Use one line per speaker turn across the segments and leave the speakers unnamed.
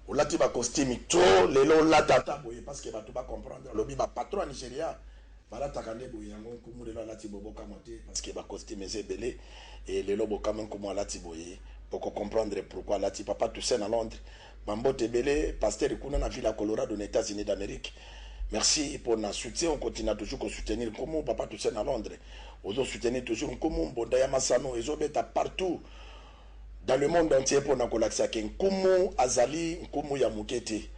Olati ba costume trop lelo olata ata boye parce que batu ba comprendre alobi ba patron ya Nigeria balataka nde boye yango nkumu lelo alati boye bokamwa te parce que ba costume eza ebele et lelo bokamwe nkumu alati boye boko comprendre pourquoi alati papa Toussaint na Londres ba mbote ebele pasteur kuna na ville ya Colorado na Etats Unis d'Amerique merci pona soutien on continue toujours ko soutenir nkumu papa Toussaint na Londres ozo soutenir toujours nkumu mbonda ya masano ezo beta partout dans le monde entier mpo na kolakisa ke Nkumu azali Nkumu ya moke te.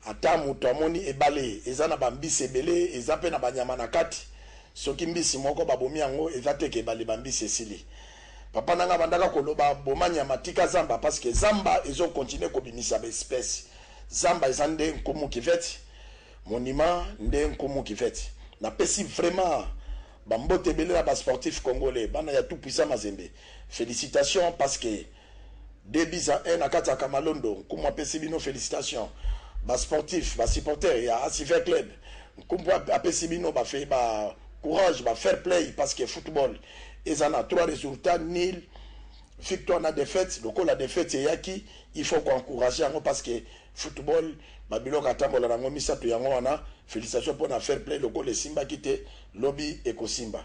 Ata moto amoni ebale eza na ba mbisi ebele, eza mpe na ba nyama na kati, soki mbisi moko babomi yango eza te ke ebale ba mbisi esili. Papa na ngai abandaka koloba boma nyama tika zamba parce que zamba ezo continuer kobimisa ba espèces. Zamba eza nde Nkumu Kiveti, monument nde Nkumu Kiveti. Napesi vraiment ba mbote ebele na ba sportifs congolais, bana ya tout puissant Mazembe. Felicitations parce que deux buts à un na kati ya Kamalondo Nkumu apesi bino felicitations ba sportifs ba supporters ya Asivert Club Nkumu apesi bino ba ba courage ba fair play parce que football eza na trois resultats nul victoire na defaite lokola defaite eyaki il faut ko encourager yango parce que Football ba biloko atambola nango misatu yango wana felicitation pona fair play lokola esimbaki te lobi ekosimba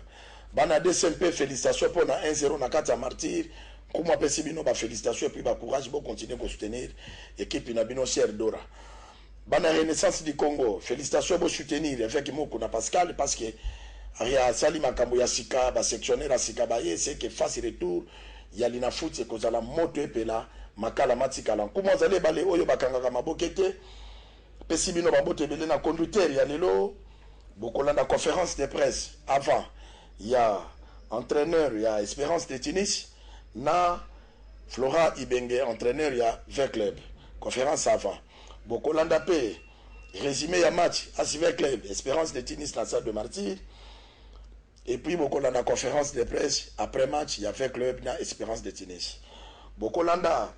bana DC mpe felicitation pona un zero nakati ya martyrs nkumu apesi bino ba felicitation epuis ba courage bo continue ko soutenir equipe na bino sœur Dora bana renaissance du Congo felicitation bo soutenir eveque Moku na Pascal parce que asali makambo ya sika ba sectionnaire ya sika baye ce que face retour ya linafuti ekozala moto epela, makala matikala. Nkumu azali ebale oyo bakangaka maboke te. Pesi bino ba mbote ebele na conducteur ya lelo. Bokolanda conference de presse avant ya entraineur ya Esperance de Tunis na Flora Ibenge entraineur ya V-Club. Conference avant. Bokolanda pe resume ya match as V-Club Esperance de Tunis na Stade de Martyrs. Et puis boko landa conference de presse après match ya V-Club na Esperance de Tunis. Boko landa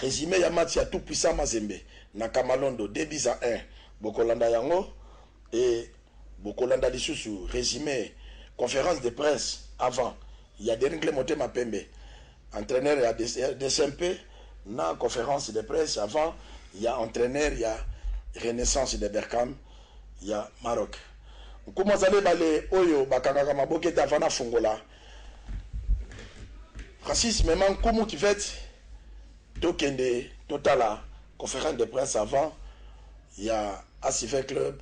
resume ya match ya tout puissant Mazembe na Kamalondo deux buts à un. Boko landa yango et boko landa lisusu resume conference de presse avant ya Deringle Motema Pembe. Entraineur ya rdc mpe na conference de presse avant ya entraineur ya Renaissance de Berkane ya Maroc. Nkumu azali ebale oyo bakangaka maboke te avant nafungola. Francis mema Nkumu cuvette tokende totala conference de presse avant ya Asv Club.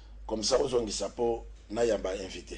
Comme ça ozongisa po na yamba invite.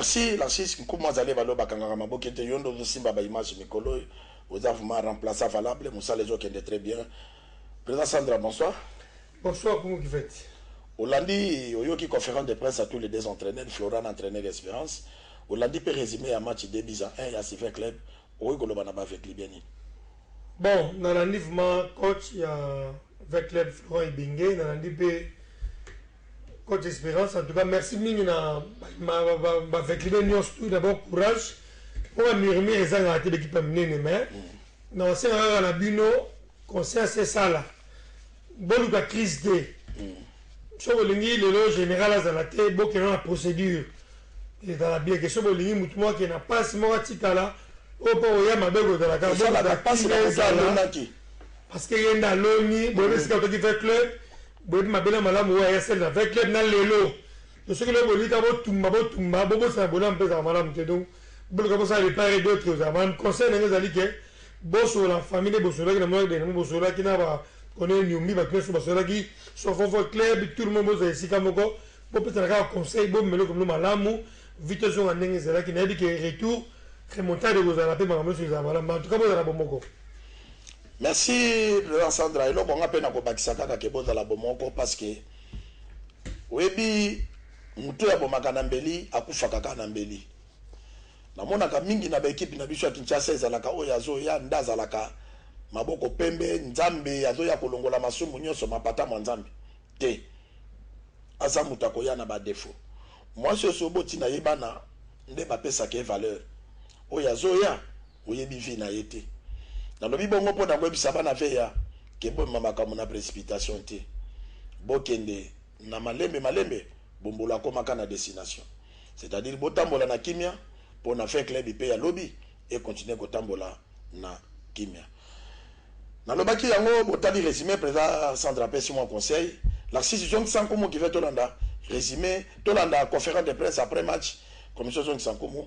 merci lancis nkumu azali balo bakangaka maboke te yo nde ozosimba baimage mikolo oyo oza vraiment remplaça valable mosala ezokende très bien président sandra bonsoir Bonsoir Kumu
Kiveti. Olandi,
oyoki conference de presse ya tous les deux entraineurs, Flora na entraineur Esperance, olandi pe resume ya match deux buts à un ya Super Club, okoki koloba na ba Veclubien nini? Bon,
nalandi vraiment coach ya Veclub Florent Ibenge, nalandi pe coach Esperance, en tout cas merci mingi na ba Veclubien nionso, tout d'abord courage, po ba murmures ezangaka te ba equipe ya minene, mais nakosenga kaka na bino conscience esala. Boluka crise te soki bolingi lelo general azala te bokenda na procédure ezala bien ke soki bolingi motu moko akende na pasi moko atikala oyo mpo oya mabe kozala kakaezala parce que ye nde aloni boyebi esika toki ve club boyebi mabe na malamu oyo ayasali na ve club na lelo To soki lobi bolika bo tumba bo tumba bo bosana bolamu mpe ezalaka malamu te donc boluka bosala de part et d'autre ezalaka malamu conseil na ngai ezali ke bosolola en famille nde bosololaki na Moire de Nemo bosololaki na ba Corneille Niombi batu nionso basololaki Sofofor club tout le monde bozala esika moko bopesana kaka conseil bomema eloko mlo malamu vie tozonga ndenge ezalaki nayebi ke retour remontada ekozala mpe makambo nionso ekozala malamu mais en tout cas bozala bomoko. Merci
President Sandra, eloko nga pe nako bakisa kaka ke bozala bomoko parce que Oyebi mutu oyo abomaka na mbeli akufaka kaka na mbeli. Namonaka mingi na ba equipe na biso ya Kinshasa ezalaka oyo azoya nde azalaka maboko pembe nzambe azoya kolongola masumu nionso mapata mua nzambe te aza mutu akoya na ba defaut. Muasi oso oboti naye bana nde bapesaka ye valeur oyo azoya. oyebi vie na ye te. Nalobi bongo mpo na koyebisa bana Veya que bomema makambo na precipitation te. Bokende na malembe malembe, Bombolo akomaka na destination. C'est-à-dire botambola na kimia mpo na Fin Club mpe ya lobi e continuer kotambola na kimia. Nalobaki yango botali resume President Sandra apesi mua conseil. Narcisse zongisa nkumu qui veut tolanda resume, tolanda conference de presse après match, Commission zongisa nkumu.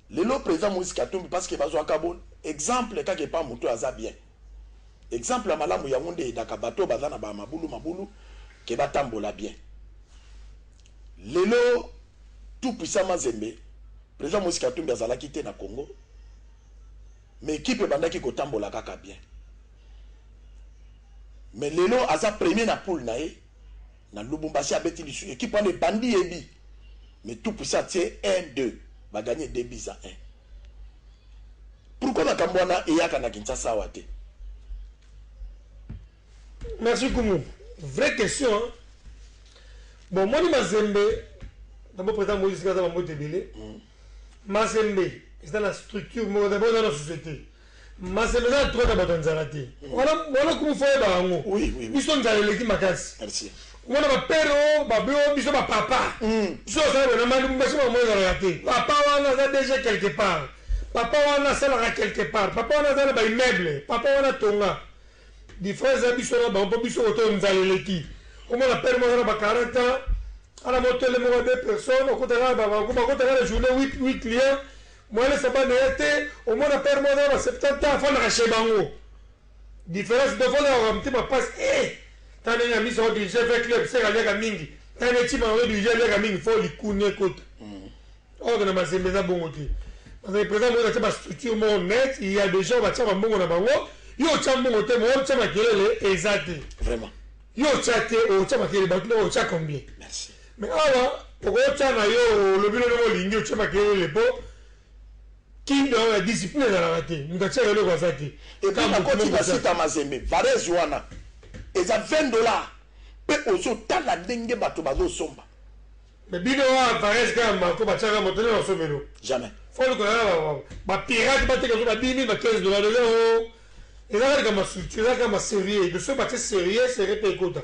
Lelo president moise katumbi parce que bazuaka bo exemple kaka epa mutu oyo aza bien exemple ya malamu yango nde edaka batu oyo baza na ba mabulu mabulu que ba tambola bien lelo tout puissant mazembe president moise katumbi azalaki te na congo mais equipe ebandaki ko tambola kaka bien mais lelo aza premier na poule na ye Na Lubumbashi abeti lisusu equipe wana ebandi ye bi mais tout puissant atie un deux ba gagne deux buts à un pourquoi makambo wana eyaka na Kinshasa awa te?
Merci Kumu. Vraie question. Hein? Bon, moi, Mazembe, d'abord, président Moïse Gaza, Mambo Tebele. Mm. Mazembe, c'est dans la structure, d'abord dans la société. Masembe eza na droit na bato ya nzala te. Wana wana kumu faut oyeba yango. Oui, oui, oui. Biso nzala
eleki
makasi. Merci. Omona ba
père
o ba be o biso ba papa. Biso osala bona mani mbasi mwa mwana ezalaka te. Papa wana aza déjà quelque part. Papa wana asalaka quelque part. Papa wana aza na ba immeuble. Papa wana atonga. Difference eza biso na bango mpo biso koto nzala eleki. Omona père moko aza na ba 40 ans. Ana motele moko ya deux personnes okotaka na bango bakotaka na journée 8 8 clients. Moiles abanda ya te omona père moko aza na ba 70 ans afandaka chez bango difference dovo na oka motema pasi eeh tala ndenge ya miso odi je vais club seka aliaka mingi tala nde chima yango odi je aliaka mingi fo likuni ekota or na mazembe eza bongo te mazembe président mokoza tia ba structure moko net il y a des gens batia ba mbongo na bango yo otia mbongo te mo otia makelele eza te vraiment yo
otia te
otia makelele bato na otia combien merci Mais awa okoki otia na yo olobi lolenge olingi otie makelele po kin na yo ya discipline ezalaka te moto atiaka eloko aza te epuis nakoti
na site ya mazembe varese wana eza 20 dollars pe ozotala ndenge bato bazosomba mais bino
wa varese kaka marco batiaka moto nde basomelo jamais foluka
kaka
ba pirate bateka zo ba 10000 ba 15 dollars lelo Eza kaka likambo ya structure, eza kaka ba serieux, il faut batie serieux, serieux pe ekota.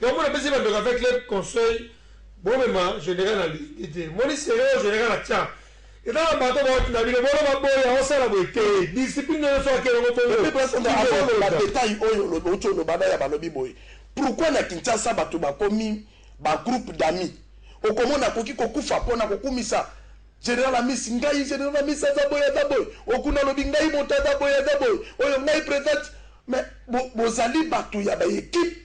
Donc po napesi ba ndeko ya Veclub conseil, bomema general na ligne te, omoni serieux oyo general atia, eza na bato bawuti na bino, bolo baboya, osala boye te, discipline na yo soki ake elongo bongo, Epuis Pasta Nzambe avant
oloba detail oyo olobi owuti oloba na ya balobi boye pourquoi na Kinshasa bato bakomi ba groupe d'amis okomona akoki kokufa pona kokumisa General Amisi, ngai general Amisi aza boye aza boye, Okuna alobi ngai moto aza boye aza boye, oyo ngai president mais bo bozali batu ya ba equipes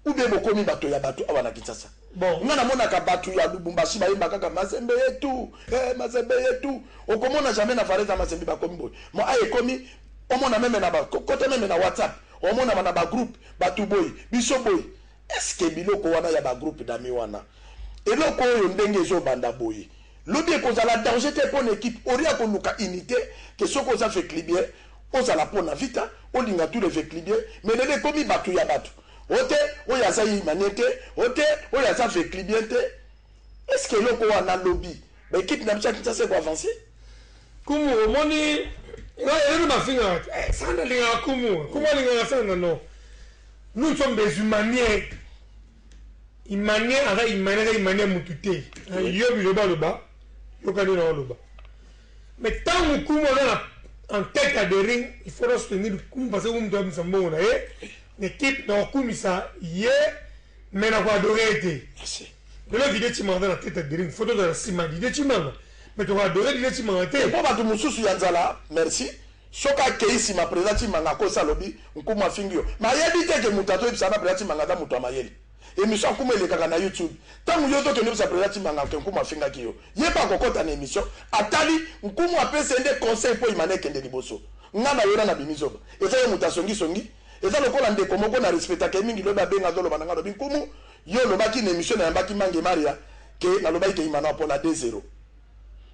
ou bien bokomi bato ya bato awa na Kinshasa? Bon. Nga namonaka batu ya Lubumbashi bayemba kaka Mazembe yetu, eh Mazembe yetu. Okomona jamais na Valais na Mazembe bakomi boye. Mo aye ekomi omona meme na ba kota meme na WhatsApp, omona na ba groupe batu boye, biso boye. Est ce que biloko wana ya ba groupe d'amis wana eloko oyo ndenge ezo banda boye lobi eko zala danger te pona equipe au lieu ya ko luka unite que soki oza veclibien ozala pona vita olinga tout les veclibien mais lelo ekomi batu ya batu ote oyo aza imaniente ote oyo aza veclibien te Est ce que eloko wana lobi ba equipe na biso ya Kinshasa eko avancer? Kumu
omoni nga elelo bafingaka te eh, sanda alingaka kumu kumu alingaka sanda no nous sommes des humaniens humanien aza humanien aza humanien mutu te yo biloba aloba yoka nde na oloba mais ntango kumu aza na en tête ya de ring il faut na soutenir kumu parce que kumu toyabisa mbongo na ye na equipe na kokumisa ye mais na ko adore ye te merci lelo dide chimanga na tete diring faut tozala nsima dide chimanga mais toko adore dide chimanga te mpo bato mosusu ya nzala
merci soki akei nsima président chimanga akosi alobi nkumu afingi yo mais ayebi te ke moto azoyebisa na président chimanga aza moto ya mayele emission nkumu elekaka na youtube ntango yo tokende oyebisa président chimanga ke nkumu afingaki yo ye mpe akokɔta na emission atali nkumu apesi ye nde conseil mpo imana ekende liboso ngai na yo na nabimi zoba eza ye moto asongisongi Eza lokola ndeko moko na respectaka ye mingi lobi abenga azo loba nanga alobi nkumu yo olobaki na emission na yambaki mange maria ke na lobaki ke imana apona de zero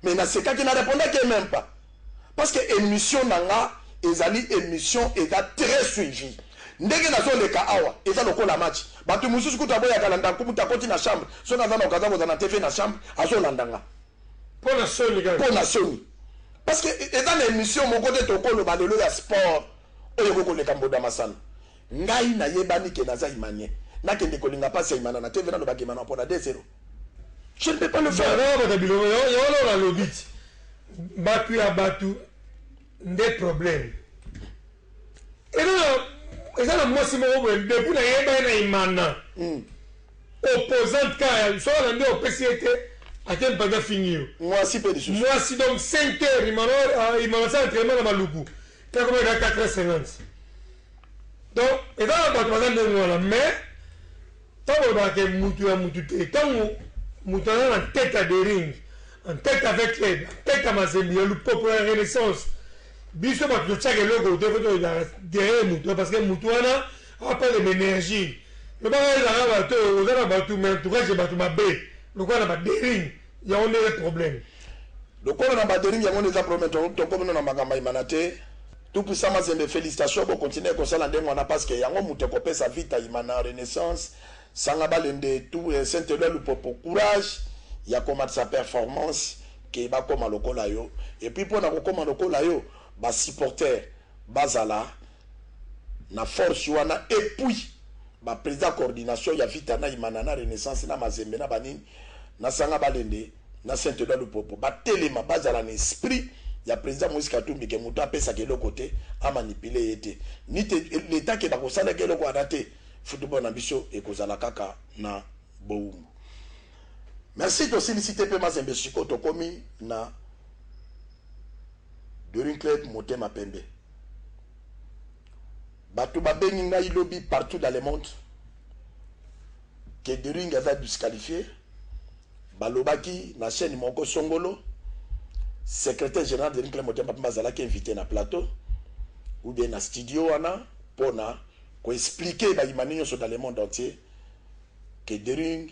mais na sekaki na repondaki ye meme pas parce que emission nanga ezali emission eza tres suivi ndenge nazo leka awa eza lokola match batu mususu kutu aboya kala nda nkumu ta koti na chambre soki aza na okaza koza na tv na chambre azo landa nga pona
soni kaka pona soni
parce que eza na emission moko te toko loba lelo ya sport Oyo ekoki koleka mboda masano. Ngai na yebani ke naza imanien. Na kende ko linga pasi ya imana na TV na lobaka imana pona de zero. Je ne peux pas le faire. Banda obanda biloko yo yo lo
na lobiti. Batu ya batu nde problème. Eza na eza na mwasi moko boye depuis na yeba ye na imana. Mm. Opposante ka ya so na nde opesi ye te. Ate mpanda fingi yo. Mwasi pe lisusu. Mwasi
donc 5
heures imana ah, imana sa entraînement na maluku. Te koma eza 450 donc eza na bato baza ndenge wana mais ntango olobaka ke mutu ya mutu te ntango mutu aza na tete ya dering en tête avec club en tête ya mazembi ya lupopo ya renaissance biso bato totyaka eloko te fo toyaka derrière moto parce que moto wana apale baénergie lobaka ezalaka bato oza na bato mais entourage ya bato mabe lokola na badering Yango nde ye problème. Lokolo na
baderie yango nde eza problème to tokomi no na makambo ya imana te tout puissant mazembe felicitations bo continuer kosala ndenge wana parce que yango mutu ekopesa vita imana renaissance sanga balende tout eh, saint eloi lupopo courage ya komatisa performance que bakoma lokola yo et puis pona kokoma lokola yo ba supporter bazala Na force wana et puis ba president coordination ya vita na imana na renaissance na mazembe na ba nini na sanga balende na saint eloi lupopo ba telema bazala na esprit ya president moise katumbi ke mutu apesaka eloko te a manipuler ye te ni te l'etat ke bakosalaka eloko wana te football na biso ekozala kaka na bowumbu merci tosilisi te pe mazembe sikoyo tokomi na during club motema pembe Bato babengi ngai lobi partout dans le monde que De Ring aza disqualifie. Balobaki na chaîne moko Songolo, secrétaire général de Ring Club Motema Pembe azalaki invité na plateau ou bien na studio wana mpo na ko expliquer bayimani nyonso dans le monde entier que De Ring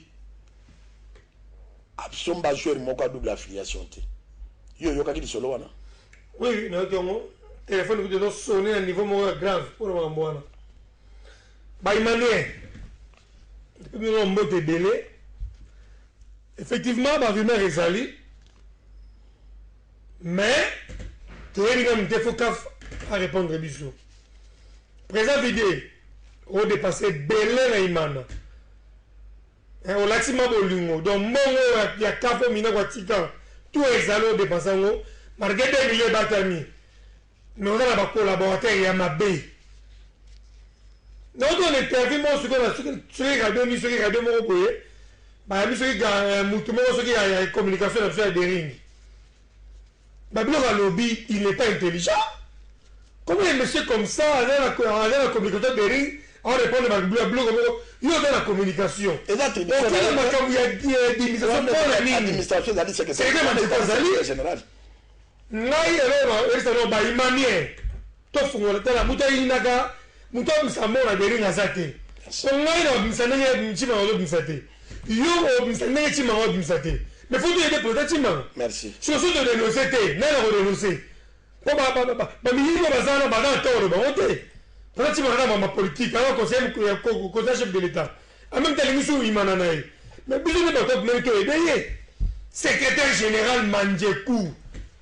Absomba joueur moko a double affiliation te. Yo oyokaki lisolo wana? Oui, oui, nayoki
yango. Telefone kutu ezo sonner na niveau moko ya grave mpo na makambo wana. Ba Emmanuel, tokomi yango mbote ebele. Effectivement, ba rumeurs ezali, mais toyebi nanu te, faut CAF a répondre biso. Président Vide, o dépasser ebele na Imana. Eh olati ma bolingo donc mbongo oyo ya kafo mina kwa tika tout ezali o depense yango malgre 2 millions ebatami mais oza na ba collaborateurs ya mabe donc to na interview moko soki na soki radio ni soki radio moko boye bayambi soki mutu moko soki ya communication na biso ya dering Babylore alobi il n'est pas intelligent comment un monsieur comme ça aza na aza na communication Bering a répondre ba Babylore moko yo oza na communication Eza tradition na okela ye te.
makambo ya ya
administration Wana pona nini
administration ezali seke seke. Secretaire ya Wana Manzekwa ezali ezali ya general. ngai
eloko na yebisa no ba imamien To fungola tala mutu ayinaka mutu abimisa mbongo na bering aza te po ngai na bimisa ndenge chimanga azo bimisa te yo obimisa ndenge chimanga azo bimisa te mais faut toyede president chimanga merci siko so to
denonce
te nani ako denonce po ba ba ba ba miyibi baza wana baza na toro bango te president chimanga na mama politique aza conseil ya conseil chef de l'etat en même temps alingisi oyimana na ye mais biso nde bato bameli toyede ye secrétaire général manjeku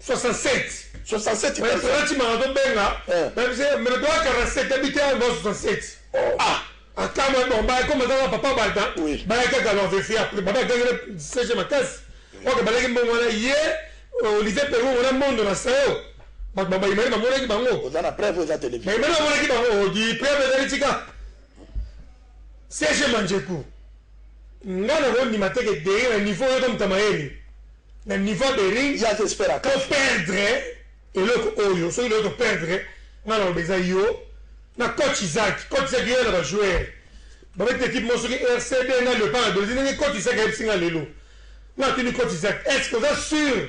67 67 mais kasa.
tola chimanga tobenga Eh. mais bise mais tola 47 ya bite yango 67 Oh. ah akama bon ba ekoma kaka papa balta Oui. ba kaka leur vérifier après baba gangele sege makasi ok balaki mbongo wana ye euh, Olivier Perou wana mondo na sayo bato ba bayimani bamonaki bango oza na preuve eza television
bayimani bamonaki bango
di preuve ezali tika sege manjeku nga nakondima te ke deri na niveau oyo tomutama yeni na niveau ya bering ya jesper a to
perdre
eloko oyo soki nayo to perdre nga na loba eza yo na coach isaki coach isaki yo na ba joueur ba beti equipe mo soki rcd na le pas na belizi ndenge coach isaki a yebisi nga lelo na tuni coach isaki est ce que oza sur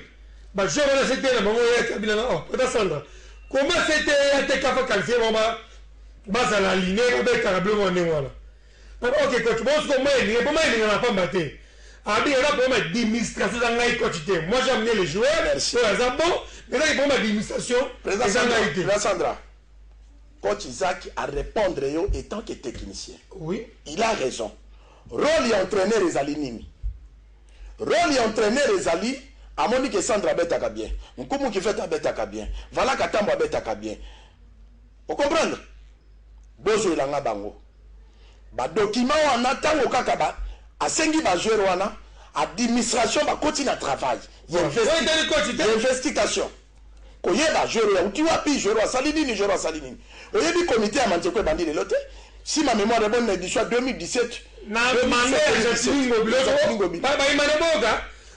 ba joueur wana cte na bango ya kabila na oh pata sandra comment cte ya te kafa qualifie bango ba bazala aline ba betaka blo mo ndenge wana Papa ok coach bon sikoyo moi elinga eboma elinga na pamba te arbitre aza problème ya dimistrasio eza ngai coach te moi j'ai amener le joueur oyo aza bon mais eza ki problème ya dimistrasio eza ngai te Président
Sandra coach Isaac a repondre yo etant que technicien oui il a
raison
role ya entraîneur ezali nini role ya entraîneur ezali amoni ke Sandra abetaka bien Nkumu Kifete abetaka bien Valaka Tambo abetaka bien O comprendre? Bozwela nga bango. Ba documents wana tango kaka ba asengi ba joueurs wana, administration bakoti na travail y'investication. Koyeba joueur oyo awuti wapi, joueur oyo asali nini, joueur oyo asali nini. Oyebi comite ya Manzeko ebandi lelo te? Si ma memoire est bonne na edition ya 2017, Na manda
ya Jacqueline Ngobila, ozo, ba, ba imana boga.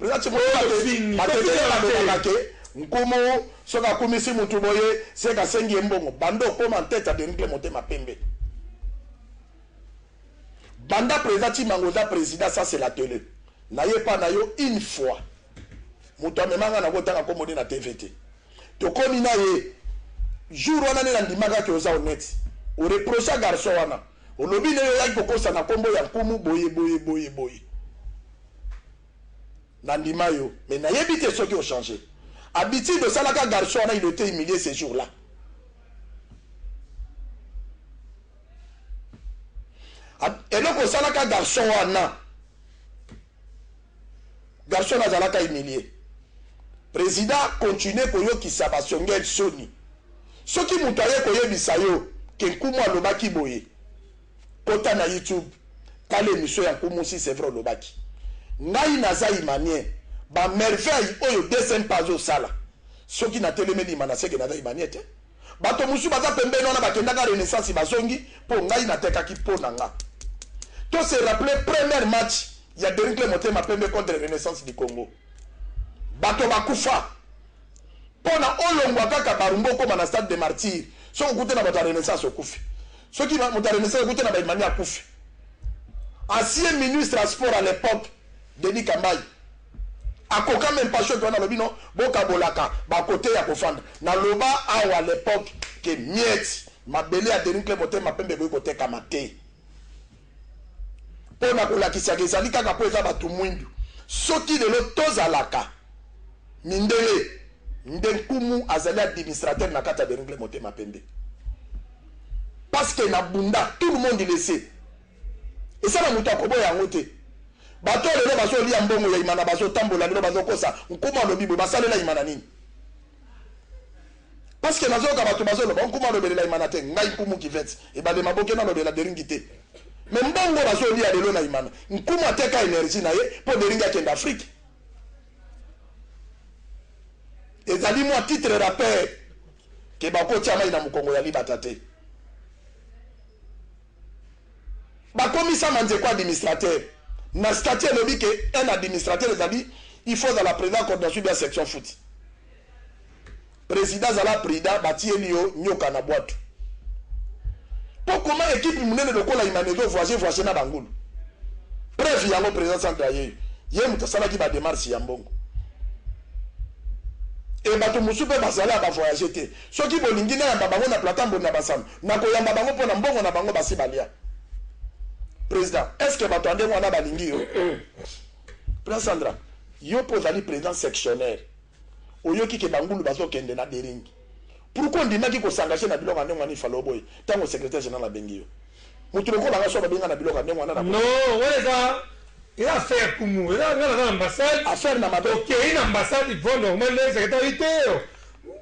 Eza ti boye batu batu ebele ba lobaka ke nkumu soki akumisi mutu boye ce que asengi ye mbongo banda okoma en tete ya dengle motema pembe banda president timango oza president ça c'est la tele naye epa na yo une fois mutu amema nga na kotanga kombo ne na tv te tokomi na ye jour wana nde nandimaka ke oza honnete oreprocha garçon wana olobi nde oyaki kokosa na kombo ya nkumu boye boye boye boye nandima yo mais nayebi te soki ochange habitude osalaka garçon wana il était humilié ce jour là eloko osalaka garçon wana Garçon wana azalaka humilie. President continue koyokisa ba Songel soni. Soki mutu aye koyebisa yo que Nkumu alobaki boye, kota na YouTube tala emission ya Nkumu si c'est vrai olobaki. Ngai naza Imanien, ba merveilles oyo DCMP azosala soki natelemeli Imana seke naza Imanien te. Bato mosusu baza pembeni wana bakendaka Renaissance bazongi po ngai natekaki po na nga. To se rappeler première match ya Derinkle Motema Pembe contre Renaissance du Congo. Bato bakufa po na olongwa kaka Barumba okoma na stade de martyrs soki okute na bato ya Renaissance okufi. Soki moto ya Renaissance okute na Baimani akufi. Ancien ministre ya sport à l'époque Denis Kambayi Akoka meme pas choix wana nalobi no bokabolaka ba cote ya kofanda naloba awa l'epoque que miette mabele ya Denis Claire motema pembe ekoki kotekama te mpo na kolakisaka ezali kaka mpo eza bato mwindu soki lelo tozalaka mindele nde nkumu azali administrateur na kati ya Denis Claire motema pembe parce que na bunda tout le monde le sait Eza na mutu akoboya yango te. Bato oyo lelo bazo lia mbongo ya Imana bazo tambola lelo bazo kosa Nkumu alobi boye basalela Imana nini? Parce que nazoyoka bato bazoloba Nkumu alobelela Imana te ngai Nkumu Kivette ebale maboke nalobela Deringi te mais mbongo bazolia lelo na Imana Nkumu ateka energie na ye mpo Deringi akende Afrique ezali mwa titre rappeur ke bakotia mai na mokongo ya libata te Bakomisa Manzeko administrateur na statut elobi que un administrateur ezali il faut ozala president coordination bien section foot. President zala prudent batieli yo nyoka na bwatu. Po koma ekipe munene lokola Imane ezo voyager voyager na bangulu. Preuve yango president centre ayeyo ye moto asalaki ba demarche ya mbongo. Et bato mosusu pe bazali ya ba voyager te. Soki bolingi nayamba bango na plata mbodi na basano nakoyamba bango pona mbongo na bango basi balia president est ce que bato ya ndenge wana balingi yo president Sandra yo po ozali president sectionnaire oyoki ke bangulu bazokende na dering pourquoi ondimaki kosangaje na biloko ya ndenge wana ifalo oboye ntango secretaire general abengi yo moto lokola nga so babenga na biloko ya ndenge wana no wana eza
eza affaire kumu eza nga naza na ambassade affaire na mabe okei
na ambassade il
faut normal nde secretaire iteyo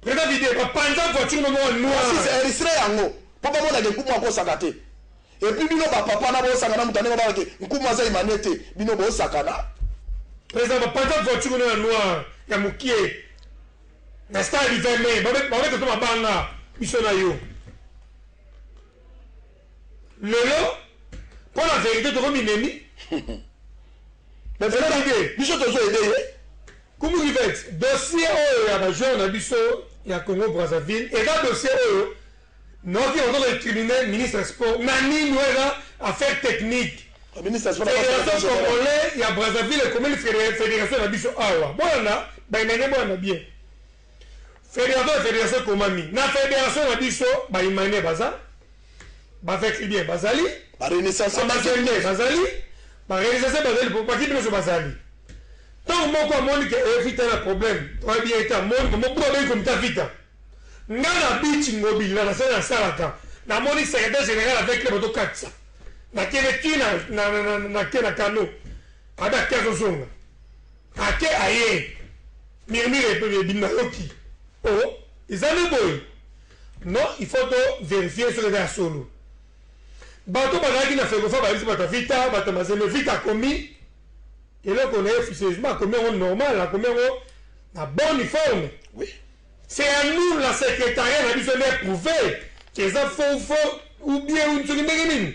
Prena video ba panza voiture na moko noir. Ba sisi eristre yango
po ba mona ke nkumu akosaka te et puis bino ba papa na bo saka na mutu ya ndenge ba ke nkumu aza imanie te bino bo saka na. President
ba panza voiture na noir ya mukie na star river me ba ba beta to mabanga biso na yo lelo po na verite toko minemi.
Mais biso tozo aider ye. Kumu
Yvette, dossier oyo ya ba joueurs na biso ya Congo Brazzaville eza dossier oyo naoki ozo ko incriminer ministre ya sport na nini? Oyo eza affaire technique. Federation
congolais
ya Brazzaville ekomeli federation na biso awa. Bolanda ba inane bwana bien. Federation ya federation ekomami na federation na biso ba humanien baza ba veclibien bazali ba renaissance
bazende bazali
ba renaissance bazali po bakipe biso bazali ntango moko amoni ke evita na problème oyebi ye te amoni mobutu abengi komita vita nga na bici ngobila na sala nasalaka namoni secrétaire général avec le bato katisa na kende ti na na na na na kano ada kiazo zonga Ake aye mirmire pe bebin nayoki oh eza nde boye non il faut to verifier soki eza ya solo bato bazalaki na fecofa bayebisi bato ya vita bato ya mazembe vita akomi eloko na ye officieusement akomi yango normal akomi yango na bonne forme oui.
c'est à
nous la secrétariat na biso nde eprouve eza faux faux ou bien soki ndenge nini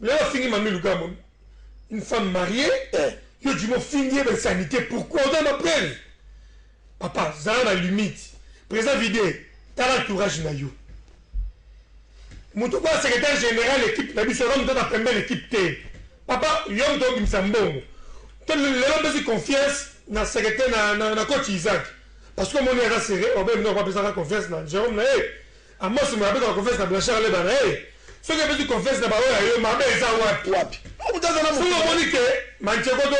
Lelo afingi Mamie Lugambo une femme mariée eh. Yo Jimmy ofingi ye ba insanité pourquoi oza na preuve Papa zala na limite Présent vide tala entourage na yo moto okoya secrétaire général équipe na biso oza moto na pembele équipe te Papa yo moto obimisa mbongo to lelo mpesi confiance na secrétaire na, na, na coach Isaac parce que omoni aza serré obe bino bapesaka confiance na Jérôme na ye Amos moye abetaka confiance na Blanchard alebana hee soki abeti confiance na ba oyo ya yo mabe eza wapi? Wapi? Mpo moto aza na moto na ye. Soki omoni que Manchego to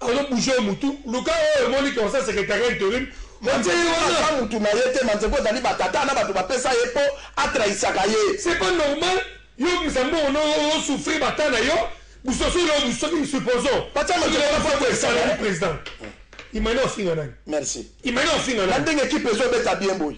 azo bouger yo mutu luka oyo omoni que oza secretariat interim otie ye wana. Manchego aza mutu na ye te, Manchego ezali ba tata na batu bapesa ye mpo a trahisaka ye. C'est pas normal yo obimisa mbongo na yo ozo souffrir ba temps na yo busosi na yo soki supposons Batia soki Manchego na Manchego faux escalier. ezali president imagine ofinga nani? Merci. Imagine
ofinga Na nani?
ndenge equipe ezo beta
bien boye.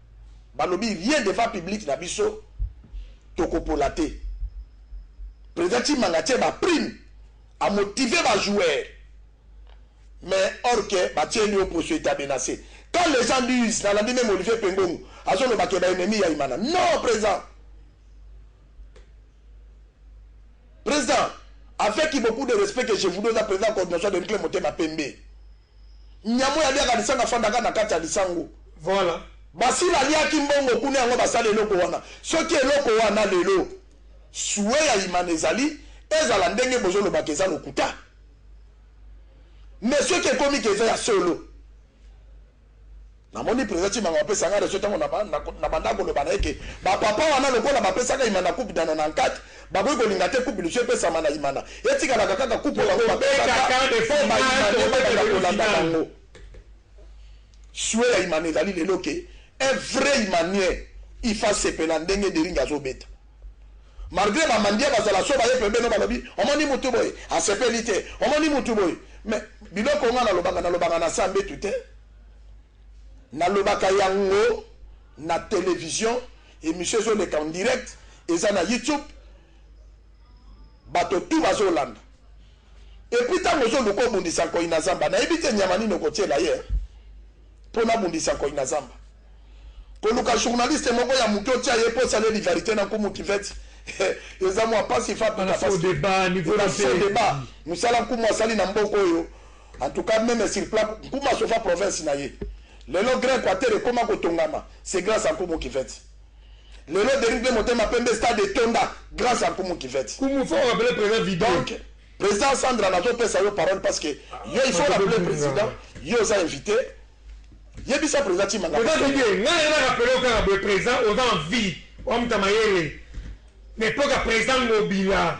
balobi rien devant public na biso tokopola te president chimanga atie ba prime a motive ba joueur mais or que batieli yo poso eta menace quand les gens disent nalandi meme olivier pengongo azoloba ke baennemi ya imana non president president avec beaucoup de respect que je vous donne à président coordination de nclé motema pembe Nyama oyo aliaka lisanga afandaka na kati ya lisango. Voilà.
Basila aliaki
mbongo kuna yango basali eloko wana soki eloko wana lelo souhait ya imana ezali ezala ndenge bozo loba ke eza lokuta mais soki ekomi ke eza ya solo Na moni president Tshimanga ba pesa nga raison tango na banda ko loba na ye ke ba papa wana lokola ba pesaka Imana coupe dans 94 ba koki ko linga te coupe lisusu epesama na Imana etikalaka kaka coupe oyo bango ba pesaka po ba Imanais ba banda ko landa bango. Souhait ya Imana ezali lelo ke un vrai Imanien il faut asepela ndenge Deringue azo beta malgre ba Mandia ba zala so ba ye pembeni ba lobi omoni mutu boye asepeli te omoni mutu boye mais biloko nga na lobaka na lobaka na sa mbetu te. Nalobaka yango na television, emission ezo leka en direct, eza na YouTube, bato tout bazo landa. Et puis tango ozo luka obundisa nkoyi na zamba, nayebi te nyama nini okotiela ye po nabundisa nkoyi na zamba. Koluka journaliste moko ya muke otia ye po osaleli varite na nkumu kiveti, eza mua pasi, fa pika pasi. Eza
faux debat,
musala nkumu asali na mboka oyo, En tout cas meme sur plat Nkumu asofa province na ye. Lelo grand equateur ekoma kotongama c'est grace à Nkumu Kivette. Lelo Derrick de motema pembe stade etonda grace à Nkumu Kivette. Nkumu faut rappeler president
vide. Donc president
Sandra nazo pesa yo parole parce que yo il faut rappeler president yo oza invité yebisa president Chimanga. President Didier ngai na
rappeler kaka boye president oza en vie wa mutamayele na epoque ya president Ngobila.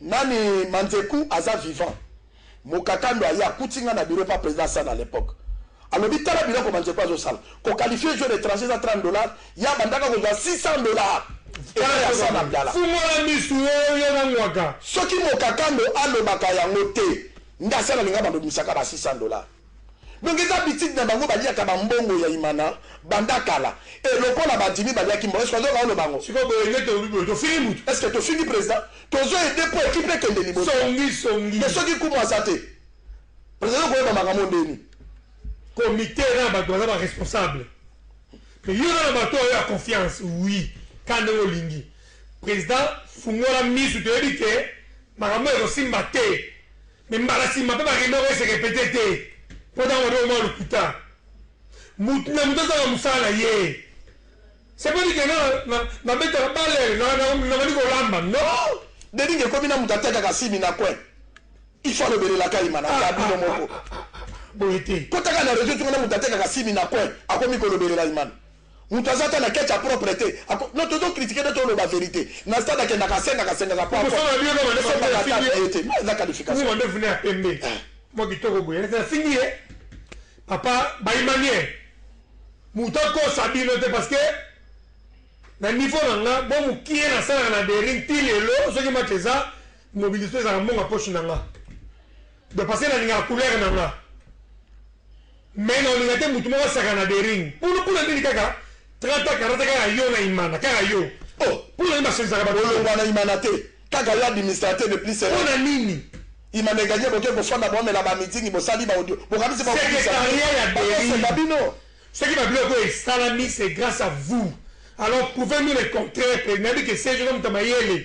Nani manzeku aza vivant? Mokakando aye akuti nga na bureau epa president Assane à l'epoque alobi tala biloko manzeku azo sala ko qualifier joueur etranger eza 30 dollars ye abandaka kozwa 600 dollars epa ya Assane Abdala.
Fungola misu oo yo na ngwaka. Soki mokakando
alobaka yango te nde Assane alinga ba bimisaka ba 600 dollars. Donc eza habitude na bango baliaka ba mbongo ya Imana banda kala et lokola ba dimi baliaki mbongo est ce que ozoyoka oloba ngo? Sikoyo boye nde tolobi boye
tofingi mutu? Est ce que tofingi president?
Tozo aider po equipe ekende liboso. Songi songi. Mais soki
Nkumu aza
te president azo koyeba makambo ndeni? Comite
eza na batu baza ba responsable mais yo oza na batu oyo ya confiance oui kaka ndenge olingi. President fungola misu toyebi que makambo oyo ekosimba te. Mais mbala sima pe ba reunion oko se repeter te po oza mwana oyo mwa lokuta. Mutu na mutu azanga musala na ye. C'est pas dit que nga na na betaka balle na na na bandi ko lamba non. Dening ekomi na mutu
atekaka simi na coin il faut alobelelaka ye manaka bino moko boye te.
Kotaka na reseau soki
na mutu atekaka simi na coin akomi kolobelela imana. Mutu aza ata na ketch ya propre te ako non tozo critique nde toloba verite na stade akendaka asengaka sengaka po ako esombaka
ata billet te
mais aza qualification Mwa ndefu naye ya pembe
mwa kitoko boye neti afingi ye papa ba imaniel mutu akosa bino te parce que na niveau na nga mwa mukie nasalaka na Bering ti lelo soki match eza mobilisation ezalaka mbongo ya poche na nga Ba pasteur na lingaka couleur na nga mais na olinga te mutu moko asaka na dering pulu pula nini kaka 30 ans 40 kaka yo na imana kaka yo oh pula nini
basolisaka ba
bolongwa na imana te
kaka yo administrateur de plus sera pona nini
imana eganye
boke kofanda bomela ba meeting bosali ba audio bokanisi ba secretariat ya dering ba bino
soki ba biloko esalami c'est grâce à vous alors prouvez nous le contraire pe nabi que c'est je comme tamayele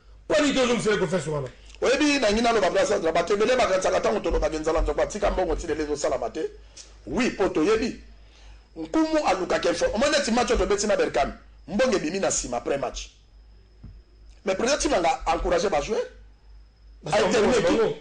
Pona nini te ozongisela ye confiance wana? Oyebi na lingi naloba
gra Sandra batu ebele bakanisaka tango tolobaka enzala nzoko atika mbongo ti lelo ezosalama te oui po toyebi nkumu alukaka info omoni neti match oyo tobeti na Berkane mbongo ebimi na sima après match mais president Tshimanga a encourage ba joueurs a etermine equipe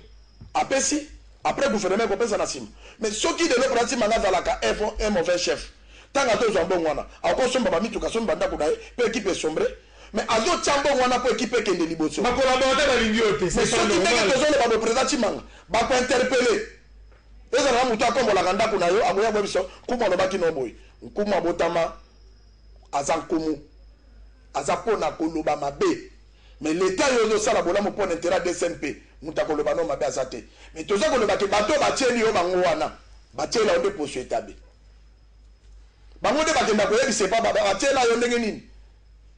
apesi après gouvernement ekopesa na sima mais soki lelo president Tshimanga azalaka un mauvais chef tanga tozwa mbongo wana akosomba ba mituka asomba ba ndako na ye pe equipe esombre Mais azo tia mbongo wana po equipe ekende liboso. Ba collaborateur balingi
yo te c'est pas normal. Mais soki ndenge tozo
loba boye president Tshimanga bako interpelle ezala na mutu akombolaka ndaku na yo akoya koyebisa yo nkumu alobaki na yo boye. Nkumu abotama aza nkumu aza pona koloba mabe mais l'etat yo ozo sala bolamu pona interet ya DCMP mutu akoloba na yo mabe aza te mais toza koloba ke bato batieli yo bango wana batiela yo nde poso etabe. Bango nde bakenda koyebisa epa ba batiela yo ndenge nini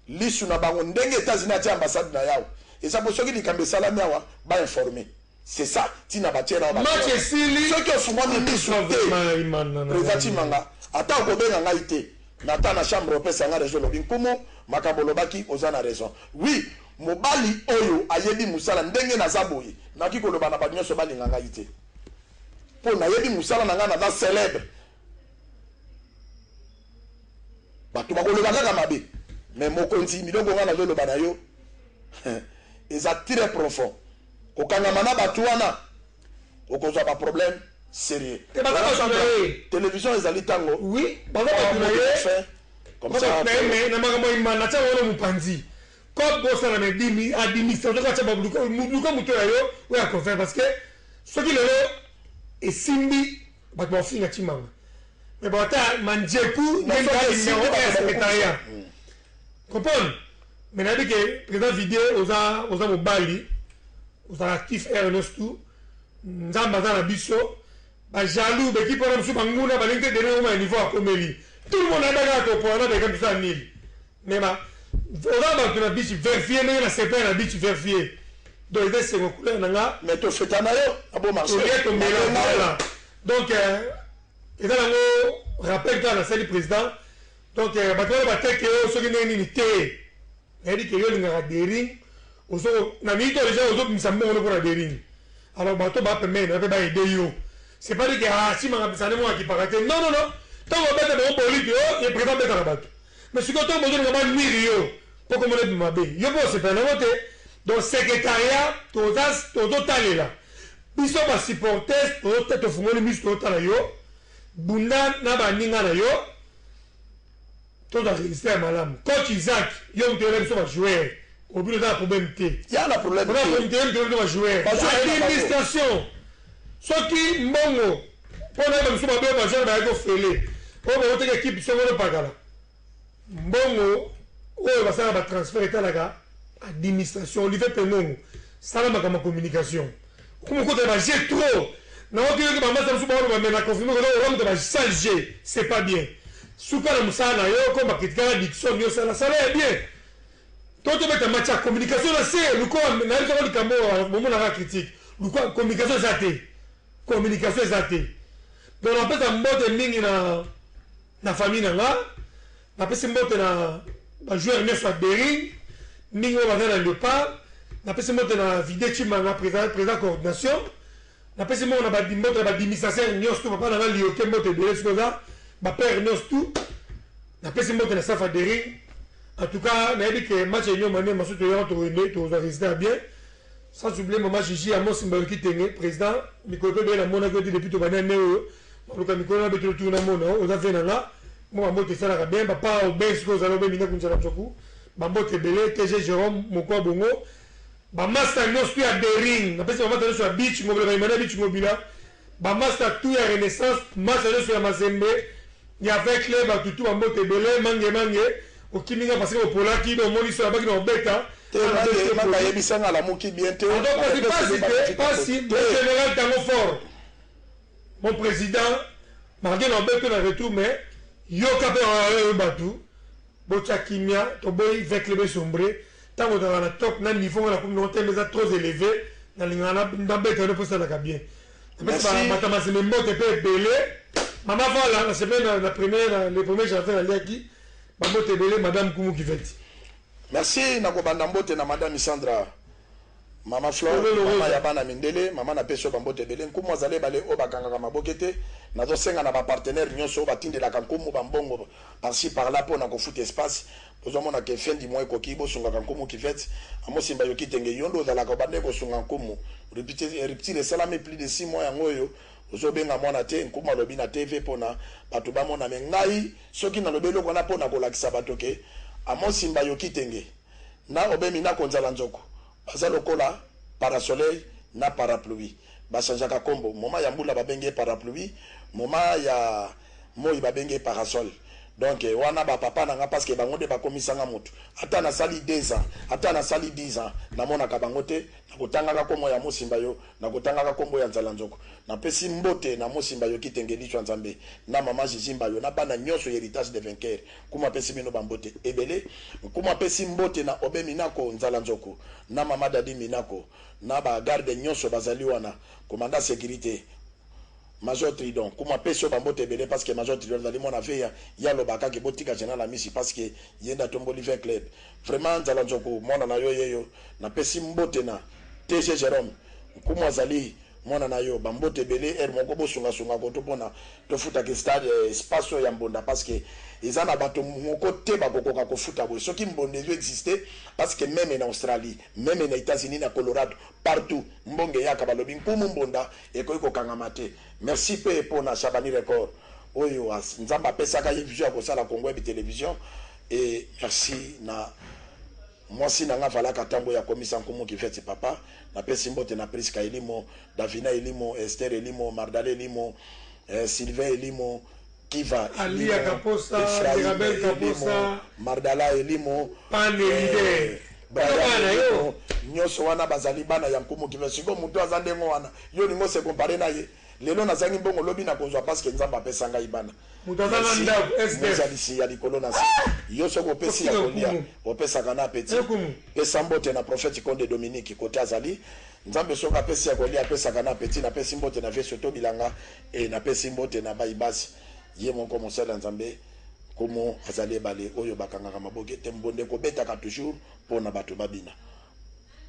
lisu na bango ndenge etats unis atie ambassade na ye awa eza po soki likambo esalami awa ba informe c'est ça tina batiela yo ba Match cameras esili soki
ofungwami misu
akufa te vraiment Imana na president ngai. tshimanga ata okobenga ngai te na ta na chambre opesa nga raison olobi nkumu makambo olobaki oza na raison oui mobali oyo ayebi musala ndenge naza boye nakoki koloba na batu nionso balinga ngai te po nayebi musala na ngai naza celebre Batu bakoloba kaka mabe mais mokonzi milongo nga nazoloba na yo eza très profond kokangama na batu wana okozwa ba problème sérieux télévision ezali ntango oui baza batu
na ye babapreme na makambo imana atya wana mopanzi kob bosana na dimi administration ko atya baluka moto ya yo oyo akofaire parce que soki lelo esimbi Batu ba finga Tshimanga. Mais bon ata Mandjeku na Ngali mais oyo ba secretariat. Comprendre? Mais na bike président Vidé oza oza mobali. Oza actif RNS tout. Nzambe aza na biso. Ba jaloux beki pona biso banguna balingi te dene oma niveau akomeli. Tout le monde a daga to pona na beka biso anil. Mais ba oza batu na beach verfier ndenge na sepela na beach verfier donc eza esengo couleur na nga mais to feta na yo
na bo marché olie to mela voilà
donc euh, eza na ngo rappel kaka na sali président donc euh, batu wana ba teke yo oh, soki ndenge nini te na dit que yo lingaka dering ozo na mito déjà ozo bimisa mbongo no pona dering alors bato ba pembeni na pe ba aider yo c'est pas dit que ah si manga bisane mo akipaka te non non non tango beta ba boliki yo oh, ye président beta na bato Mais sikoyo tango bozo linga ba nuire yo po kombo nayo ebima mabe yo pe osepela nango te donc secretariat toza tozo talela biso ba supportes tozo tofungoli misu tozo tala yo bunda na ba ninga na yo tozwa resultat ya malamu coach Isaac yo mutu oyela biso ba joueurs obino oza na problème te ya na problème
te ba
joueurs administration Soki mbongo po na yeba biso mabe oyo ba joueurs bayaki ofele oyo ba wutaki equipe songolo pakala mbongo oyo basalaka ba transfert etalaka administration olive pengongo sala makambo ya communication okoma okota na ba jeux trop na oki yoki ba masta biso ba oloba mais na confirme koza oza moto ba sale jeux c'est pas bien suka na musala na yo okoma critikaka Dickson yo sala sala ya bien To tobeta match ya communication na se lokola nayebi soko likambo oyo bomonaka critique lokola communication eza te communication eza te donc napesa mbote mingi na na famille na nga napesi mbote na bajoueur nyonso ya bering mingi oyo baza na leopard napesi mbote na vide chimanga président coordination Na pesi moko na ba mbote na ba dimisaser nionso tout papa na nga lioke mbote ebele soki oza ba pere nionso tout na pesi mbote na safa dering en tout cas na yebi ke match ya union maniema soki toyaka tokende tokozwa resultat ya bien sans oublier mama jiji ya mosi mbayo kitenge president mikolo pe bele na monaki yo te depuis tobandi ane oyo maluka mikolo na betelo tuna mona oza vie na nga mo ba mbote esalaka bien papa obe soki ozala obe minda kunzala nzoku ba mbote ebele tg jerome mokwa bongo Ba masta nionso tout ya bering na pesi ba masta nionso ya beach ngobila ba emmanuel beach ngobila ba masta tout ya renaissance masta nionso ya mazembe ya vert clair batu tout ba mbote ebele mange mange okimi nga pasque opolaki donc omoni soki nabaki na obeta Te nga nde te nga
yebisa nga alamuki bien te Pardon pasi pasi te
pasi mon general tango fort mon president malgre na obeta na retour mais yoka pe batu Botia kimia toboyi vecle be sombre tango ozalaka na top na niveau nga na komi nango tembe eza trop eleve na lingaka na beta yo po osalaka bien na pesi ba bata masembe mbote pe ebele mama vala na sepeli na na premier na le premier jardin na liaki ba mbote ebele madame kumu kiveti. Merci
na kobanda mbote na madame isandra. Mama Flore, mama ya bana mindele, mama na pesi yo ba mbote ebele, nkumu azali ebale oyo ba kangaka maboke te, nazo senga na ba partenaires nionso oyo ba tindelaka nkumu ba mbongo par ci par là pona ko futa espace, bozo mona que fin du mois ekoki, bo sungaka nkumu Kivette, Amos Simba yo Kitenge yo nde ozalaka obandaki ko sunga nkumu, rupture esalami plus de six mois yango oyo ozo benga mwana te, nkumu alobi na TV pona batu ba mona mais ngai soki na lobi eloko wana pona ko lakisa batu que Amos Simba yo Kitenge. Na obemi na konzala nzoku baza lokola parasoleil na parapluie ba changeaka kombo moment ya mbula ba bengi ye parapluie moment ya moyi ba bengi ye parasol donc wana ba papa na nga parce que bango nde ba komisa nga mutu ata na sali deux ans ata na sali dix ans na monaka bango te na ko tangaka komo ya mosimba yo na ko tangaka kombo ya nzala nzoku na pesi mbote na mosimba yo kitenge lichwa nzambe na maman jijimba yo na bana nionso heritage de vainqueur Nkumu apesi bino ba mbote ebele. Nkumu apesi mbote na Obe Minako Nzala Nzoku na Mama Dady Minako na ba gardes nionso bazali wana, commandant securite, Major Tridon. Nkumu apesi yo ba mbote ebele parce que Major Tridon azali mwana Aveya, ye alobaka que botika General Amisi parce que ye nde atomboli Vin Club. Vraiment Nzala Nzoku mwana na yo yeyo. Napesi mbote na TG Jerome. Nkumu azali mwana na yo. Ba mbote ebele heure moko bosunga sunga koto pona. Tofutaka stade espace oyo ya mbonda parce que eza na bato moko te bakokoka kofuta boye soki mbonda ezo existe parce que meme na Australie meme na Etats Unis na Colorado partout mbonga eyaka balobi nkumu mbonda ekoki kokangama te merci pe po na Shabani record oyo nzambe apesaka ye vision ya kosala Congo web television et merci na mwasi na nga valaka tango ya komisa nkumu kiveti papa na pesi mbote na Prisca Elimo Davina elimo, Esther elimo, Mardale elimo, eh, Sylvain elimo, Kiva elimo,
Ephraim elimo, Mardala elimo,
eh,
Brian elimo,
nyonso wana bazali bana ya nkumu Kiva. Siko moto aza ndenge wana, yo olingi ose compare na ye? Lelo nazangi mbongo, lobi nakozwa parce que Nzambe apesa ngai bana. Mozalisi
ya
likolo na se, yo soki opesi ya kolia, opesaka na apeti. Pesa mbote na prophète Konde Dominique kote azali. Nzambe soki apesi ya kolia apesaka na apeti na pesi mbote na vie soto bilanga et na pesi mbote na bayi basi ye moko mosali ya nzambe nkumu azali ebale oyo bakangaka maboke te mbonda ekobetaka toujours pona batu babina.